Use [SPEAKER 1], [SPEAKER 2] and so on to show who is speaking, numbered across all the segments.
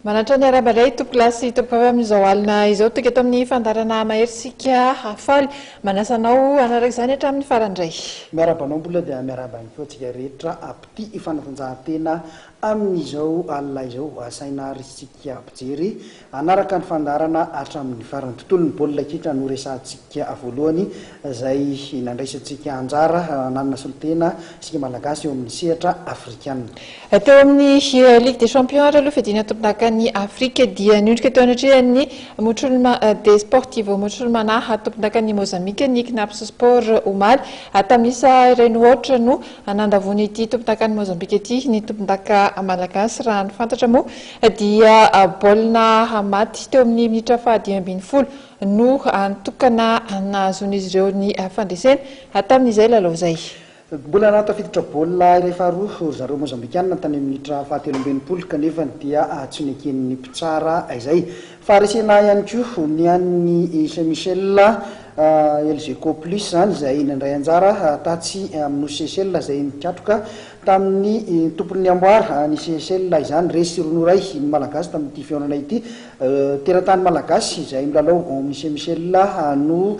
[SPEAKER 1] Manantra ny arahaba indray Tompo lahy sy Tompo vavy amin'izao alina izao tonga eto amin'ny fandaharana Mahery isika hafaly. Manasa anao hanaraka izany hatramin'ny farany indray. Miarahaba anao mbola
[SPEAKER 2] dia miarahaba ihany koa antsika rehetra mpitia fanatanjahantena amin'izao alina izao. Asaina ary isika mpijery Hanaraka ny fandaharana hatramin'ny farany. Tontolon'ny baolina kitra no resahantsika voalohany, izay nandraisantsika anjara nanana solontena isika Malagasy eo amin'ny sehatra afrikanina. Teo amin'ny
[SPEAKER 1] Ligue des Champions ary aloha fiadiana tompondakan'i Afrika dia niondrika teo anatrehan'ny Muchulma Desportivo Muchulmana tompondakan'i Mozambika ny Cnaps Sport omaly. Tamin'ny isa iray noho aotra no nandavoan'ity tompondakan'i Mozambika ity ny tompondaka Malagasy raha ny fantatra moa Dia baolina hamaty teo amin'ny minitra fahadimy ambin'ny folo no nitokana nahazoan'izy ireo ny fandresena tamin'izay lalao izay. Mbola nahatafiditra
[SPEAKER 2] baolina iray faharoa ry zareo Mozambikanina tany amin'ny minitra fahatelo amby enimpolo kanefa dia tsy neken'ny mpitsara izay. Faharesena ihany koa ny an'ny Saint Michel Elgeco Plus izany izay nandray anjara tatsy amin'ny Nosy Seychelles izay nikatroka Tamin'ny tompon'ny amboara, ny CSL, izany, resy roa noray ny Malagasy tamin'ity fihaonana ity. Teratany Malagasy izay milalao ao amin'ny semi-CL no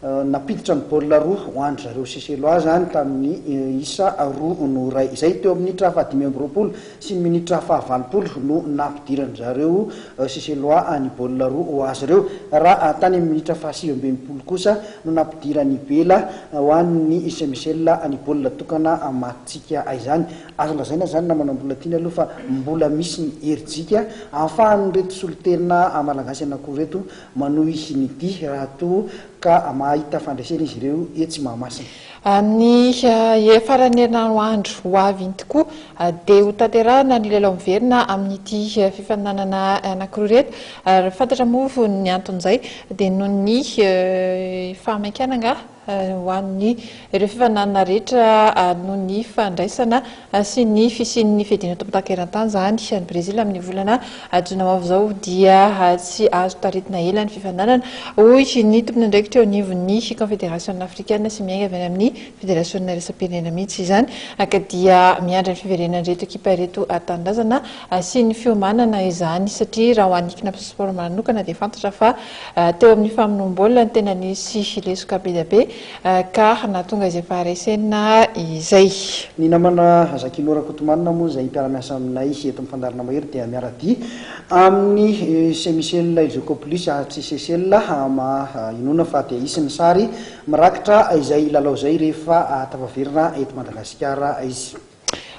[SPEAKER 2] nampiditra ny baolina roa ho an-dry zareo CSLOA izany tamin'ny isa roa noray izay. Teo amin'ny minitra fahadimy amby roapolo sy ny minitra fahavalopolo no nampidiran-dry zareo CSLOA ny baolina roa ho azy ireo raha tany amin'ny minitra fahasivy amby enimpolo kosa no nampidiran' i Bela ho an' ny Semisel ny baolina tokana matintsika izany. Azo lazaina izany namana mbola tiany aloha fa mbola misy ny herijika ahafahan' ireto solontena malagasy anakiroa ireto manohy ny dihy raha toa ka mahita fandresena izy ireo etsy Mahamasina. Amin'ny
[SPEAKER 1] hiafaran'ny herinandro andro ho avy iny tokoa dia ho tanterahana ny lelao miverina amin'ity fifaninanana anankiroa ireto ary fantatra moa ny anton'izay dia noho ny fahamaikana angaha ho an'ny ireo fifaninanana rehetra noho ny fandraisana sy ny fisian'ny fiadiana tompon-daka eran-tany izany any Brezila amin'ny volana jona ho avy izao dia tsy azo taritina ela ny fifaninanana, hoy ny tompon'andraikitra eo anivon'ny Kaonfederasiona afrikana sy miainga avy any amin'ny Federasiona iraisam-pirenena mihitsy izany ka dia miandry ny fiverenan'ireto ekipa ireto tanindrazana sy ny fiomanana izany satria raha ho an'ny Cnaps Sport manokana dia fantatra fa teo amin'ny famonoam-baolina no tena nisy lesoka be dia be Car na tonga izay faharesena izay. Ny namana
[SPEAKER 2] Zakino Rakotomanina moa izay mpiara-miasa aminay eto amin'ny fandaharana mahery dia miara-dia amin'i Ise Michel Ilzokopoulus Atsy Sesel maha inoana fa dia hisy ny sary mirakitra izay lalao izay rehefa tafaverina eto Madagasikara izy.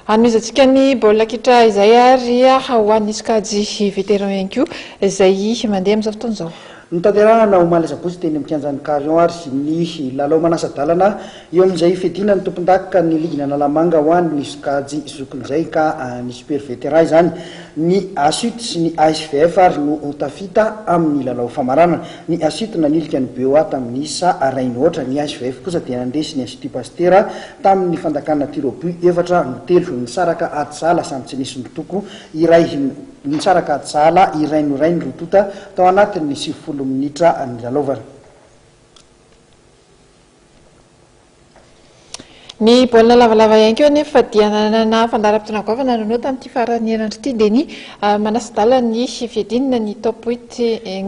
[SPEAKER 2] Hanomezantsika
[SPEAKER 1] ny baolina kitra izay ary ho an'ny sokajy vétéran ihany koa izay mandeha amin'izao fotoana izao. Notanterahana omaly
[SPEAKER 2] asabotsy teny amin'ny kianjan'ny Carion ary ny lalao manasa-dalana eo amin'izay hifidiana ny tompondakan'ny ligina Analamanga ho an'ny sokajy zokin'izay ka ny super vétéran izany. Ny Asut sy ny ASVF ary no ho tafita amin'ny lalao famaranana. Ny Asut nanilika ny BOA tamin'ny isa iray nohoatra, ny ASVF kosa dia nandresy ny Institut Pasteur Tamin' ny fandakana Tiroby efatra no telo nisaraka ady sahala samy tsy nisy notoko iray nisaraka ady sahala iray no iray ny roa tota tao anatin' ny sivifolo minitra nilalaovana.
[SPEAKER 1] Ny baolina lavalava ihany koa anefa dia nanana fandaharam-potoana goavana nanao tamin' ity faran'ny herinandro ity dia ny manasa-dalana ny fiadiana ny Top Huit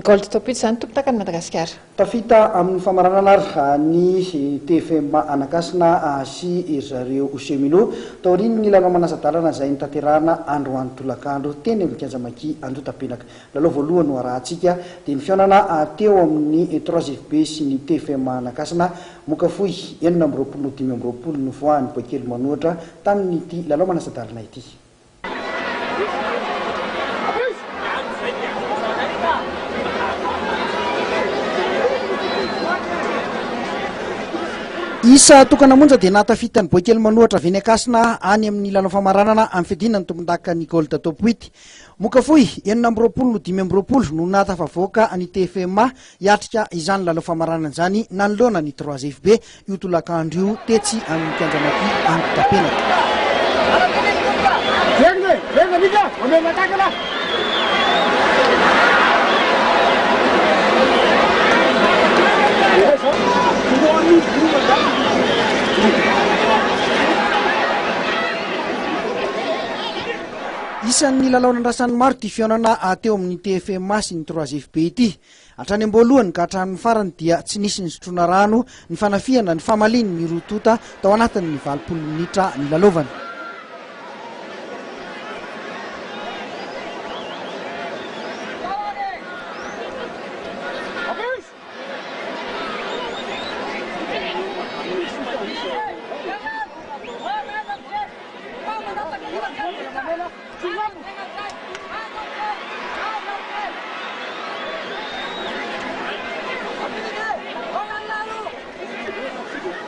[SPEAKER 1] Gold Top Huit izany tompon-takany Madagasikara. Tafita amin'ny
[SPEAKER 2] famaranana ary ny TFM Anakasina sy ry zareo Chemino, taorian'ny lalao manasa-dalana izay notanterahana androany tolakandro teny amin'ny kianja Maki Andotapenaka. Lalao voalohany noharahantsika dia ny fihaonana teo amin'ny Trois FB sy ny TFM Anakasina, Mokafohy, enina amby roapolo, dimy amby roapolo, novoahan'ny boaikely manoatra tamin'ity lalao manasa-dalana ity. Isa tokana monja dia nahatafita ny boaikely manohatra avy eny Ankasina any amin'ny lalao famaranana amin'ny fiadiana ny tompondaka ny Gold Top 8. Mokafohy enina amby roapolo no dimy amby roapolo no nahatafavoaka ny TFMA Hiatrika izany lalao famaranana izany nanoloana ny Trois Rives be io tolakandro io tetsy amin'ny kianja Maki Ankotapenaka. Isan'ny nilalao nandrasan'ny maro ity fihaonana teo amin'ny TFMA sy ny Trois FB ity. Hatrany am-boalohany ka hatramin'ny farany dia tsy nisy nisotroana rano, nifanafihana, nifamaliany ny roa tonta tao anatin'ny valopolo minitra nilalaovana. Aviz!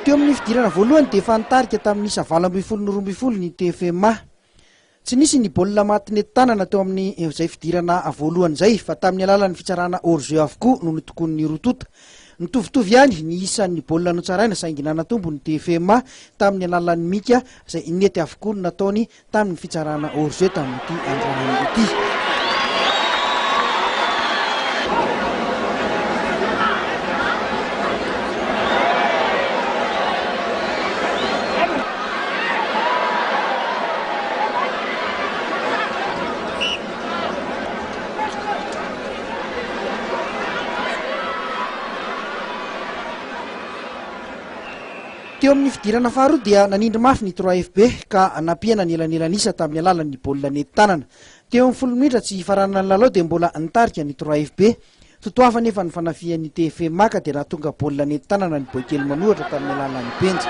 [SPEAKER 2] Teo amin'ny fidirana voalohany dia efa nitarika tamin'ny isa valo ambin'ny folo no roa ambin'ny folo ny TFMA. Tsy nisy ny baolina maty nentin-tanana teo amin'izay fidirana voalohany izay fa tamin'ny alalan'ny fitsarana hors jeu avokoa no notokonin'ny roa tonta. Nitovitovy ihany ny isan'ny baolina notsaraina saingy nanatombo ny DFMA tamin'ny alalan'ny mika izay nety avokoa ny nataony tamin'ny fitsarana hors jeu tamin'ity androany ity. Teo amin'ny fidirana faharoa dia nanindry mafy ny Trois FB ka nampiena ny elanelan'isa tamin'ny alalan'ny baolina nentin-tanana. Teo amin'ny folo minitra tsy hifaranana ny lalao dia mbola nitarika ny Trois FB. Totoafo anefa ny fanafihan'ny TFMA ka dia nahatonga baolina nentin-tanana ny Boaikely manohatra tamin'ny alalan'ny penja.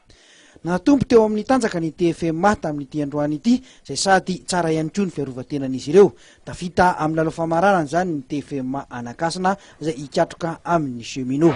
[SPEAKER 2] Nahatombo teo amin'ny tanjaka ny TFMA tamin'ity androany ity, izay sady tsara ihany koa ny fiarovan-tenan'izy ireo. Tafita amin'ny lalao famaranana izany ny TFMA Anakasina izay hikatroka amin'ny Cheminots.